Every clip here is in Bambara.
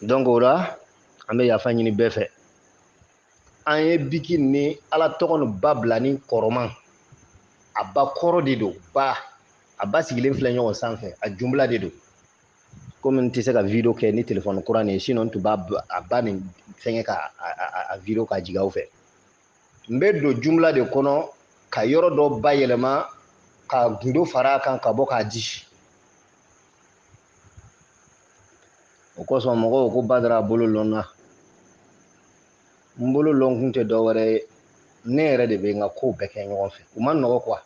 donc o la an bɛ yafa ɲini bɛɛ fɛ an ye biki ni ala tɔgɔ ni ba bila ni kɔrɔma a bakɔrɔ de don ba a ba sigilen filɛ ɲɔgɔn sanfɛ a jumla de don komi n tɛ se ka video kɛ ni telefɔni kura nin ye sinon n tun b'a a ba nin fɛnkɛ ka a video ka jigin aw fɛ n bɛ don jumla de kɔnɔ ka yɔrɔ dɔ bayɛlɛma ka gundo fara a kan ka bɔ k'a di o kosɔn mɔgɔw ko badara bolo lɔnna n bolo lɔnkun tɛ dɔ wɛrɛ ye ne yɛrɛ de bɛ n ka kow bɛɛ kɛ ɲɔgɔn fɛ u man nɔgɔ quoi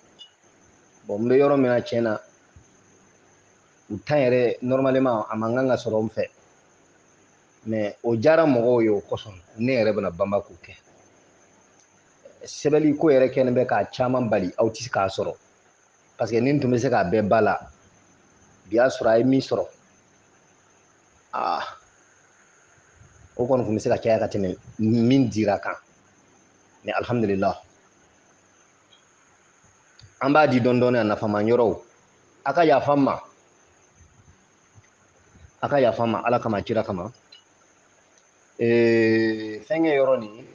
bon n bɛ yɔrɔ min na tiɲɛ na o temps yɛrɛ normalement a man kan ka sɔrɔ n fɛ mais o diyara mɔgɔw ye o kosɔn ne yɛrɛ bɛna banba k'o kɛ sɛbɛli ko yɛrɛ kɛlen bɛ k'a caman bali aw tɛ se k'a sɔrɔ parce que ni n tun bɛ se k'a bɛɛ ba la bi y'a sɔrɔ a ye min sɔrɔ aa o kɔni tun bɛ se ka caya ka tɛmɛ min dira kan mais alihamudulila an b'a di dɔɔnin dɔɔnin a nafama yɔrɔw a ka yafa n ma a ka yafa n ma ala kama kira kama ee, fɛnkɛ yɔrɔ nin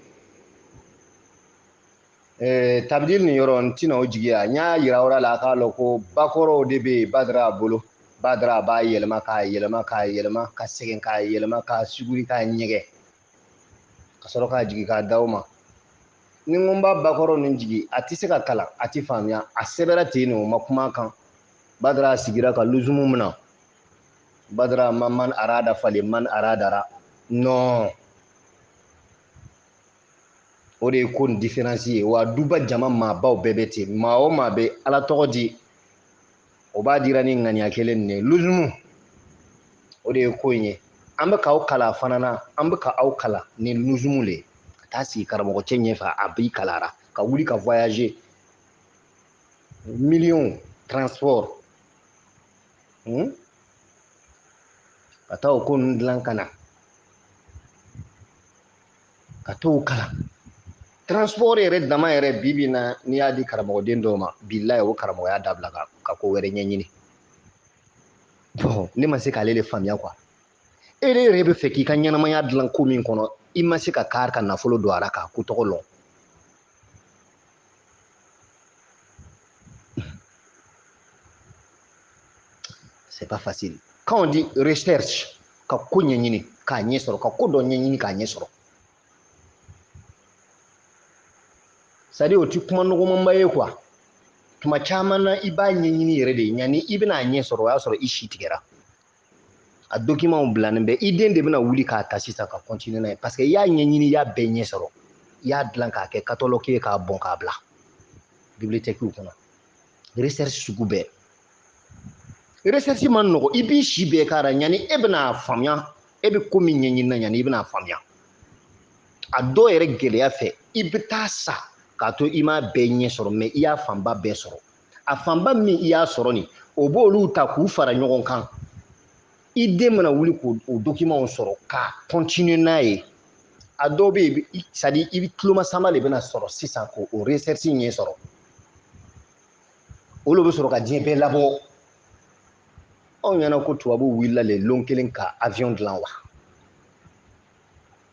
ee, tabidili nin yɔrɔ n tɛna o jigiya n y'a yira aw la a k'a lɔn ko bakɔrɔw de bɛ yen badara bolo badara b'a yɛlɛma k'a yɛlɛma k'a yɛlɛma ka segin k'a yɛlɛma k'a suguri k'a ɲɛgɛn ka sɔrɔ k'a jigin k'a d'aw ma ni n ko n b'a bakɔrɔ nin jigin a tɛ se ka kalan a tɛ faamuya a sɛbɛra ten nin o ma kuma kan badara sigira ka luzumu min na badara ma man arada falen man aradara non o de ye ko nin diferansi ye wa duba jama maabaw bɛɛ bɛ ten maa o maa bɛ ala tɔgɔ di o b'a dira ni ŋaniya kelen nin ye luzumu o de ye ko in ye an bɛ k'aw kala fana na an bɛ ka aw kala ni luzumu le ye ka taa sigi karamɔgɔcɛ ɲɛfɛ a b'i kalara ka wuli ka voyager miliyɔn transport hmm? ka taa o ko ninnu dilan ka na ka t'o kalan transport yɛrɛ dama yɛrɛ bi bi na n'i y'a di karamɔgɔden dɔw ma bilayi o karamɔgɔya dabila ka ka ko wɛrɛ ɲɛɲini bon ne ma se k'ale de faamuya quoi e de yɛrɛ bɛ fɛ k'i ka ɲɛnamaya dilan ko min kɔnɔ i ma se ka kari ka nafolo don a la k'a ko tɔgɔ lɔn C'est pas facile. Quand on dit recherche, ka ko ɲɛɲini k'a ɲɛ sɔrɔ ka ko dɔ ɲɛɲini k'a ɲɛ sɔrɔ c'est-à-dire o ti kuma nɔgɔmanba ye quoi tuma caman na i b'a ɲɛɲini yɛrɛ de yanni i bɛna a ɲɛ sɔrɔ o y'a sɔrɔ i si tigɛra a dokimanw bilanen bɛ i den de bɛna wuli k'a ta sisan ka kɔntiniye n'a ye paseke i y'a ɲɛɲini i y'a bɛɛ ɲɛ sɔrɔ i y'a dilan k'a kɛ katalɔki ye k'a bɔn k'a bila bibiliyotɛki kɔnɔ resɛrisi sugu bɛɛ resɛrisi man nɔgɔ i b'i si bɛɛ k'a ra yanni e bɛna faamuya e bɛ ko min ɲɛɲini na yanni i bɛna faamuya a dɔw yɛrɛ gɛlɛya fɛ i bɛ taa sa k'a to i m'a bɛɛ ɲɛ sɔrɔ mɛ i y'a fanba bɛɛ sɔrɔ a fanba min i y'a sɔrɔ nin o b'olu ta k'u fara ɲɔgɔn kan i den mana wuli k'o dokimanw sɔrɔ ka kɔntiniye n'a ye a dɔw bɛ yen sadi i tulomasama de bɛna sɔrɔ sisan k'o resɛrisi ɲɛ sɔrɔ o de bɛ sɔrɔ ka diɲɛ bɛɛ labɔ aw ɲɛna ko tubabuw wulila le lon kelen ka awiyɔn dilan wa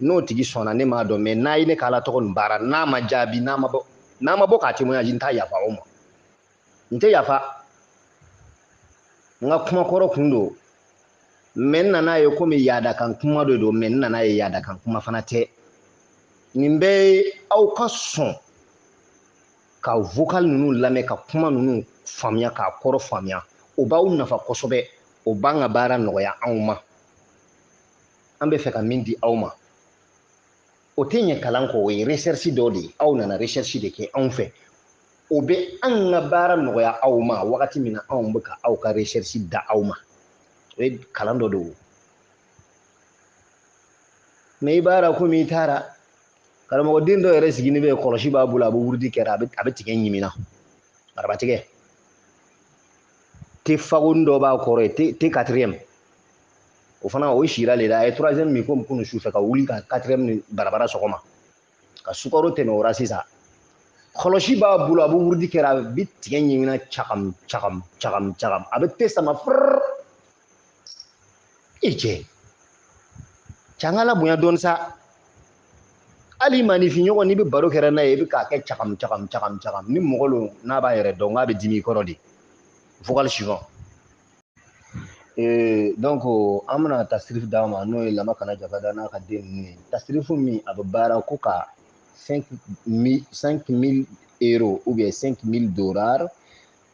n'o tigi sɔnna ne m'a dɔn mɛ n'a ye ne ka ala tɔgɔ nin baara n'a ma jaabi n'a ma bɔ ka témoignage n t'a yafa o ma n tɛ yafa n ka kuma kɔrɔ kun don mɛ n nana ye komi yaadakan kuma de don mɛ n nana ye yaadakan kuma fana tɛ nin bɛɛ ye aw ka sɔn ka vocal ninnu lamɛn ka kuma ninnu faamuya k'a kɔrɔ faamuya o b'aw nafa kosɛbɛ o b'an ka baara nɔgɔya anw ma an bɛ fɛ ka min di aw ma o tɛ ɲɛ kalan kɔ o ye recherche dɔ de ye aw nana recherche de kɛ anw fɛ o bɛ an ka baara nɔgɔya aw ma wagati min na anw bɛ ka aw ka recherche da aw ma o ye kalan dɔ de ye mɛ i b'a la komi i taara karamɔgɔden dɔ yɛrɛ sigilen bɛ kɔlɔsi b'a bolo a bɛ wurudi kɛra a bɛ tigɛ ɲimina arabatigɛ te fagonin dɔ b'a kɔrɔ yen te quatrième o fana o sira de la a ye troisième min komi kunu su fɛ ka wuli ka quatrième nin barabara sɔgɔma ka sukaro tɛmɛ o ra sisan kɔlɔsi b'a bolo a bɛ wurudi kɛra a bɛ tigɛ ɲimina cagam cagam cagam cagam a bɛ te sama furr i cɛ cɛ an ka ala bonya dɔɔni sa hali maaninfinɲɔgɔn n'i bɛ baro kɛra n'a ye i bɛ k'a kɛ cagam cagam cagam cagam ni mɔgɔ don n'a b'a yɛrɛ dɔn k'a bɛ dimi i kɔrɔ de vocal suivant ee donc an bɛna tasirifu d'a ma n'o ye lama kana jabada n'a ka den ninnu ye tasirifu min a bɛ baara ko ka 5000 euro ou bien 5000 dollars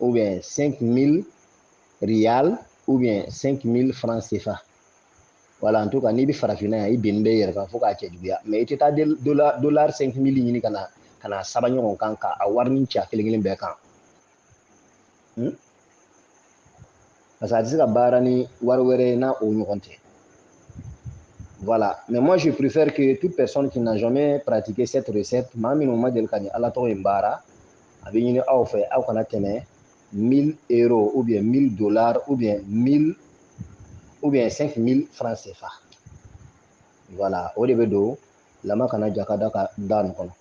ou bien 5000 rial ou bien 5000 francs CFA voilà en tout cas n'i bɛ farafinna yan i binnen bɛ yɛrɛ kan fo k'a cɛjuguya mɛ i tɛ taa dollar 5000 ɲini ka na saba ɲɔgɔn kan ka a warinin cɛ kelen kelen bɛɛ kan hmm? parce que a tɛ se ka baara ni wari wɛrɛ ye n'a o ɲɔgɔn tɛ voilà mais moi je préfère que toute personne qui n'a jamais pratiqué cette recette maa minnu ma deli ka nin ala tɔgɔ in baara a bɛ ɲini aw fɛ aw kana tɛmɛ 1000 euros ou bien 1000 dollars ou bien 1000 ou bien 5000 francs CFA voilà o de bɛ don lama kana jaka da ka da nin kɔnɔ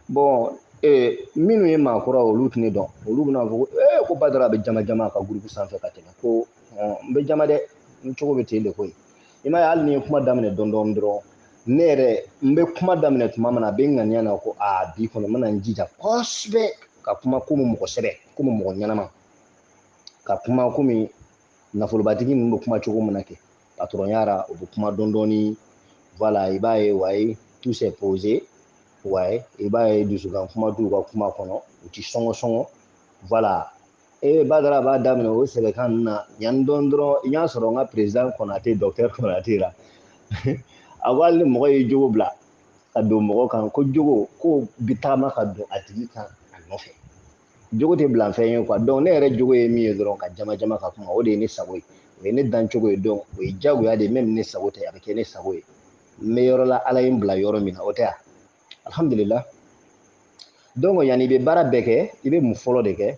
bɔn ee minnu ye maakura olu tɛ ne dɔn olu bɛna fɔ ko ee ko badara bɛ jama jama ka groupe sanfɛ ka tɛmɛ ko n bɛ jama dɛ n cogo bɛ ten de koyi i m'a ye hali ni ye kuma daminɛ dɔɔni dɔɔni dɔrɔn ne yɛrɛ n bɛ kuma daminɛ tuma min na a bɛ n ŋaniya na ko aa bi kɔni n bɛna n jija kosɛbɛ ka kuma komi mɔgɔ sɛbɛ komi mɔgɔ ɲɛnama ka kuma komi nafolobatigi ninnu bɛ kuma cogo min na kɛ patɔrɔnya la u bɛ kuma dɔɔni dɔɔni voilà i b'a ye ouais tout c'est posé ouais i b'a ye dusukan kuma t'u ka kuma kɔnɔ u ti sɔngɔ sɔngɔ voilà ee badara b'a daminɛ o sɛbɛkan ninnu na yanni dɔɔni dɔrɔn i y'a sɔrɔ n ka président kɔnate docteur kɔnate la a ko hali ni mɔgɔ ye jogo bila ka don mɔgɔ kan ko jogo ko bi tagama ka don a tigi kan a nɔfɛ jogo tɛ bila fɛn ye quoi donc ne yɛrɛ jogo ye min ye dɔrɔn ka jama jama ka kuma o de ye ne sago ye o ye ne dancogo ye donc o ye jagoya de ye même ne sago tɛ a bɛ kɛ ne sago ye n bɛ yɔrɔ la ala ye n bila yɔrɔ min na o tɛ yan alihamudulila donc yanni i bɛ baara bɛɛ kɛ i bɛ mun fɔlɔ de kɛ